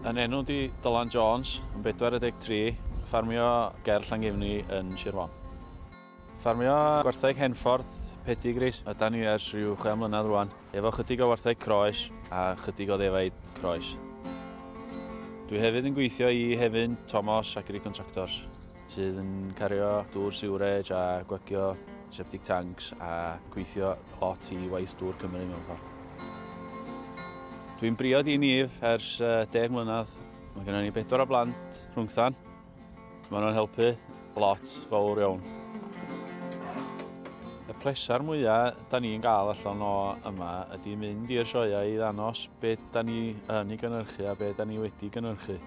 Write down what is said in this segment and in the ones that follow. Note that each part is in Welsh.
Yn enw di Dylan Jones, yn 43, ffarmio ger Llangefni yn Sir Fon. Ffarmio gwertheg Henffordd, pedigris, yda ni ers rhyw 6 mlynedd rwan, efo chydig o wertheg croes a chydig o ddefaid croes. Dwi hefyd yn gweithio i Hefin, Thomas ac Contractors. sydd yn cario dŵr siwrej a gwagio septic tanks a gweithio lot i waith dŵr Cymru mewn ffordd. Dwi'n briod i Nif ers 10 mlynedd. Mae gennym ni bedwar o blant rhwngthan. Mae nhw'n helpu lot fawr iawn. Y pleser mwyaf da ni'n gael allan o yma ydy mynd i'r sioeau i ddanos beth da ni yn ei gynhyrchu a beth da ni wedi gynhyrchu.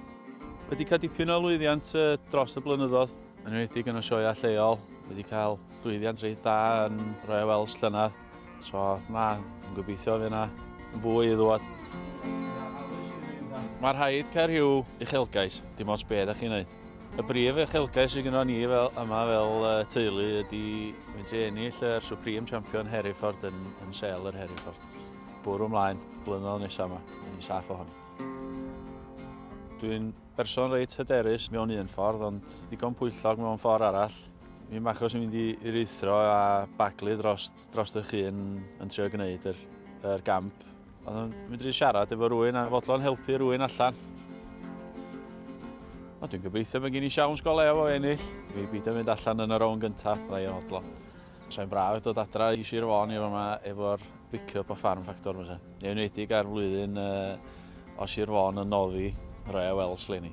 Wedi cael dipyn o lwyddiant dros y blynyddoedd, yn enwedig yn y sioeau lleol. Wedi cael llwyddiant reit dda yn Royal Welsh llynedd. So, na, yn gobeithio fe yna fwy i ddod. Mae rhaid cael rhyw uchelgais, dim ond beth ydych chi'n gwneud. Y brif uchelgais sydd gennym ni fel, yma fel uh, teulu ydy mynd i ennill yr Supreme Champion Hereford yn, yn sel yr Hereford. Bwrw ymlaen, blynyddoedd nesaf yma, yn ei saff ohoni. Dwi'n berson reit hyderus mewn un ffordd, ond ddigon pwyllog mewn ffordd arall. Mi'n achos yn mynd i rithro a baglu dros, dros eich hun yn trio gwneud yr, yr gamp. Ond yn mynd i siarad efo rwy'n a fodlon helpu rwy'n allan. O, dwi'n gobeithio bod gen i siawns go lew o ennill. Mi beidio mynd allan yn y rown gyntaf, ddau o odlo. Sa'n braf dod adra i Sir Fôn i fama efo'r pick-up o Farm Factor fysa. Yn enwedig ar flwyddyn uh, o Sir Fôn yn noddi rhai o wels leni.